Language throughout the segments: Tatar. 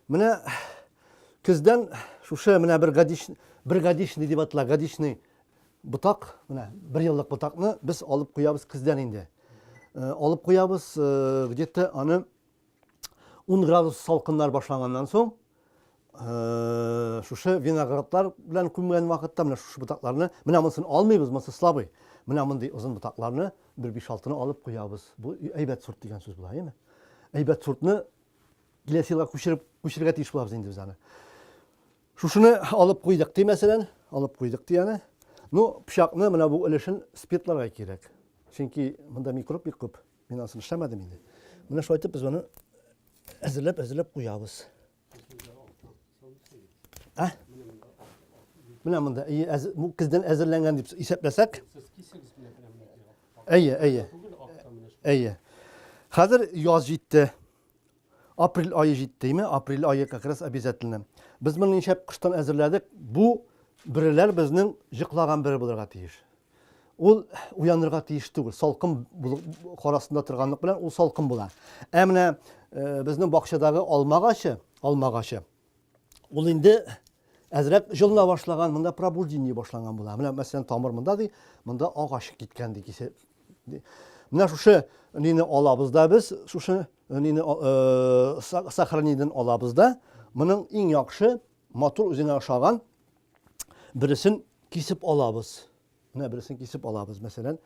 Менә көздән шушы менә бер гадиш бер гадишный дип атала, гадишный ботак, менә бер еллык ботакны без алып куябыз көздән инде. Э, алып куябыз э, где-то аны 10 градус салкыннар башланганнан соң, э, шушы виноградлар белән күмгән вакытта менә шушы ботакларны, менә монысын алмыйбыз, монысы слабый. Менә мондый озын ботакларны бер 5-6-ны алып куябыз. Бу әйбәт сорт дигән сүз була, әйме? Әйбәт сортны киләсе елга күчереп күчерергә тиеш булабыз инде без аны. Шушыны алып куйдык, ди мәсәлән, алып куйдык ди аны. Ну, пычакны менә бу өлешен спиртларга кирәк. Чөнки монда микроб бик күп. Мин асын эшләмәдем инде. Менә шулай итеп без моны әзерләп, әзерләп куябыз. Ә? Менә монда күздән әзерләнгән дип исәпләсәк. Әйе, әйе. Әйе. Хәзер яз җитте. Апрель ае җиттеме? Апрель ае как раз обязательно. Без моны ничәп кыштан әзерләдек? Бу бөреләр безнең җыклаган бөре булырга тиеш. Ул уянырга тиеш түгел. Салкын карасында торганлык белән ул салкын була. Ә менә э, безнең бакчадагы алмагачы, алмагачы Ул инде әзрәк җылына башлаган, монда пробуждение башланган була. Менә мәсәлән тамыр монда ди, монда агач киткән ди кисеп. Менә шушы нине алабыз да без, шушы нине э, сохранениедән алабыз да. Моның иң яхшы матур үзенә ошаган бересен кисеп алабыз. Менә бересен кисеп алабыз, мәсәлән,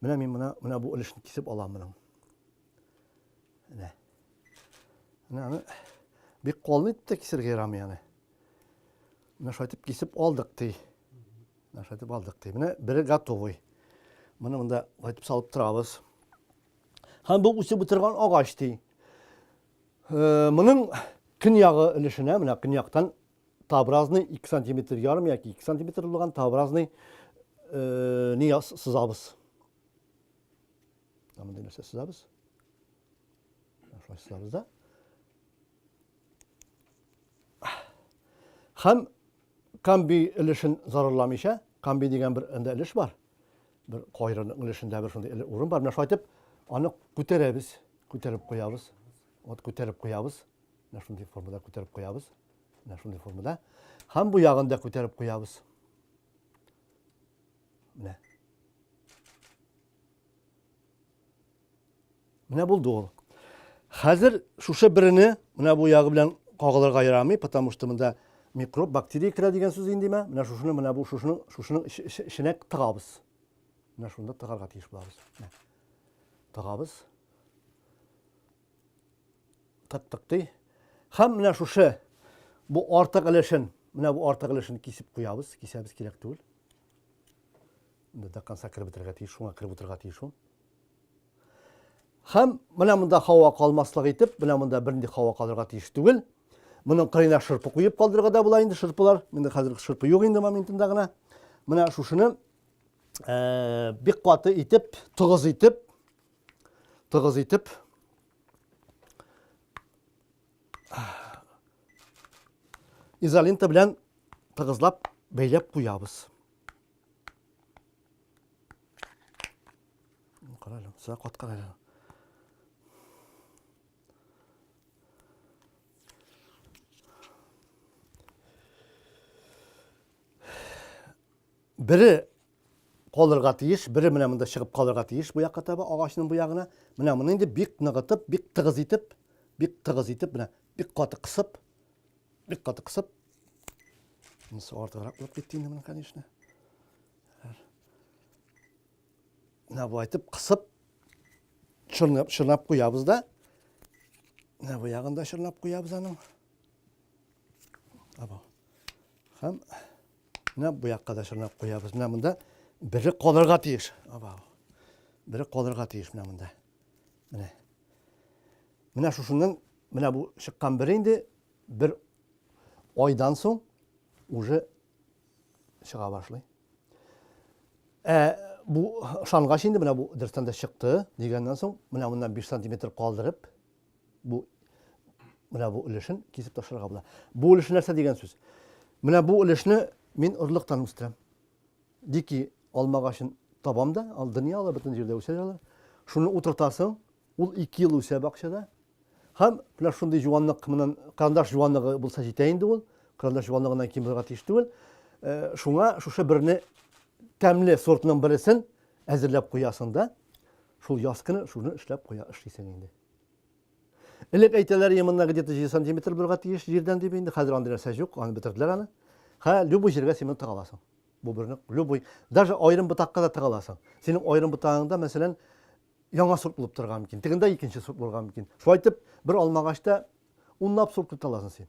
менә мин менә менә бу өлешне кисеп алам моның. Әнә. Әнә аны бик калын итеп тә кисергә ярамый аны. Менә шайтып кисеп алдык ди. Менә шайтып алдык ди. Менә бире готовый. Моны монда шайтып салып торабыз. Һәм бу үсеп утырган агач ди. Э, моның көньягы өлешенә, менә көньяктан табразный 2 сантиметр ярым яки 2 сантиметр булган табразный э, не сызабыз. мындай нәрсә сызабыз шулай сызабыз да һәм камби өлешен зарарламыйча камби дигән бер анда өлеш бар бер кайрының өлешендә бер шундый урын бар менә шулай итеп аны күтәрәбез күтәреп куябыз вот күтәреп куябыз менә шундый формада күтәреп куябыз менә шундый формада һәм бу ягын да күтәреп куябыз менә Менә булды ул. Хәзер шушы берене менә бу ягы белән кагылырга ярамый, потому что монда микроб, бактерия керә дигән сүз инде мә. Менә шушыны менә бу шушының шушының эченә тыгабыз. Менә шунда тыгарга тиеш булабыз. Тыгабыз. Тыктык ди. Хәм менә шушы бу артык өлешен, менә бу артык өлешен кисеп куябыз, кисәбез кирәк түгел. Дәканса кереп бетерергә тиеш, шуңа кереп утырырга тиеш ул. Хәм менә монда хава калмаслык итеп, менә монда бернинди хава калырга тиеш түгел. Моның кырыена шырпы куеп калдырырга да була инде шырпылар. Менә хәзер шырпы юк инде моментында гына. Менә шушыны э, бик каты итеп, тыгыз итеп, тыгыз итеп изолента белән тыгызлап бәйләп куябыз. Карале, сәгә каткан әле. Бере калырга тиеш, бере менә монда чыгып калырга тиеш бу якка таба, агачның бу ягына. Менә моны инде бик ныгытып, бик тыгыз итеп, бик тыгыз итеп, менә бик каты кысып, Бик каты кысып. Монысы артыграк булып китте инде моның, конечно. Менә бу айтып кысып чорнап, чорнап куябыз да. Менә бу ягын да чорнап куябыз аның. Або. Хәм менә бу якка да чорнап куябыз. Менә монда бире калырга тиеш. Або. Бире калырга тиеш менә монда. Менә. Менә шушының менә бу чыккан бер инде бер айдан соң уже чыга башлый. Ә бу ышангач инде менә бу дөрестән дә чыкты дигәннән соң менә моннан 5 сантиметр калдырып бу менә бу өлешен кисеп ташларга була. Бу өлеш нәрсә дигән сүз? Менә бу өлешне мин орлыктан үстерәм. Дики алма агачын табам да, ал дөнья алар бөтен җирдә үсә алар. Шуны утыртасың, ул 2 ел үсә бакчада. Һәм менә шундый җуанлык менән карандаш җуанлыгы булса җитә инде ул. Карандаш җуанлыгыннан ким булырга тиеш түгел. Э, шуңа шушы берне тәмле сортның бересен әзерләп куясың да, шул яз көне шуны эшләп куя эшлисең инде. Элек әйтәләр, именно где-то 7 сантиметр булырга тиеш җирдән дип инде. Хәзер андый нәрсә юк, аны бетерделәр аны. Хә, любой җиргә симент тыга аласың. Бу берне, любой, даже аерым ботакка да тыга аласың. Синең аерым ботагыңда, мәсәлән, яңа сорт булып торырга мөмкин. Тегендә икенче сорт булырга мөмкин. Шулай итеп, бер алмагачта унлап сорт көтә аласың син.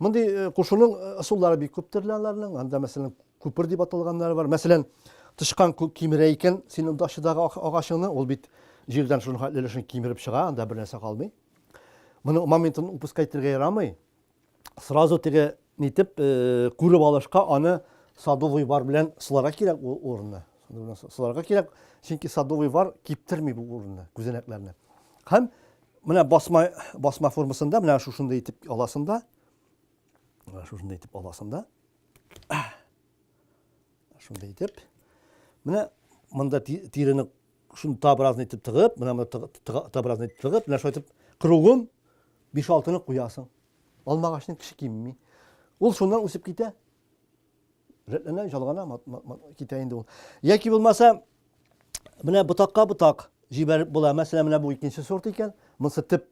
Мондый э, кушуның э, ысуллары бик күп төрле аларның. Анда, мәсәлән, күпер дип аталганнары бар. Мәсәлән, тычкан кимерә икән синең дашыдагы агачыңны, ул бит җирдән шуның хәтле өлешен кимереп чыга, анда бер нәрсә калмый. Моның моментын упускать итәргә ярамый. Сразу теге нитеп э, күреп алышка аны садовый вар белән сыларга кирәк ул урынны. Сыларга кирәк, чөнки садовый вар киптерми бу урынны, күзәнәкләрне. Һәм Менә басма, басма формасында, менә шушындай итеп аласында. Менә шушындай итеп аласында. Шундай итеп. Менә монда тирене шуны табразны итеп тыгып, менә монда табразны итеп тыгып, менә шулай итеп кругын 5-6-ны куясың. Алмагачның кеше кимми. Ул шуннан үсеп китә. Рәтләнә, жалгана, китә инде ул. Яки булмаса, менә ботакка ботак җибәреп була. Мәсәлән, менә бу икенче сорт икән. Монысы тип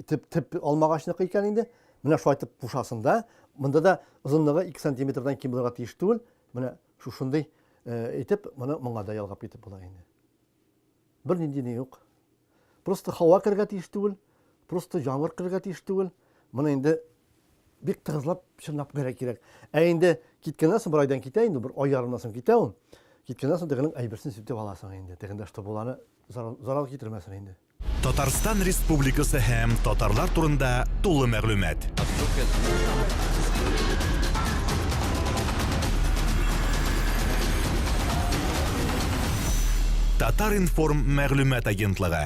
тип тип алмагачныкы икән инде. Менә шулай итеп пушасын да. Монда да озынлыгы 2 сантиметрдан ким булырга тиеш түгел. Менә шушындый э, итеп, моны моңа да ялгап китеп була инде. Бер нинди ни юк. Просто һава керергә тиеш түгел, просто җамыр керергә тиеш түгел. Моны инде бик тыгызлап чынлап гәрә кирәк. Ә инде киткәннән соң бер айдан китә инде, бер ай ярымнан соң китә ул. Киткәннән соң тегенең әйберсен сүтеп аласың инде. Тегендә что буланы зарар китермәсен инде. Татарстан Республикасы һәм татарлар турында тулы мәгълүмат. Татар-информ мәгълүмат агентлыгы.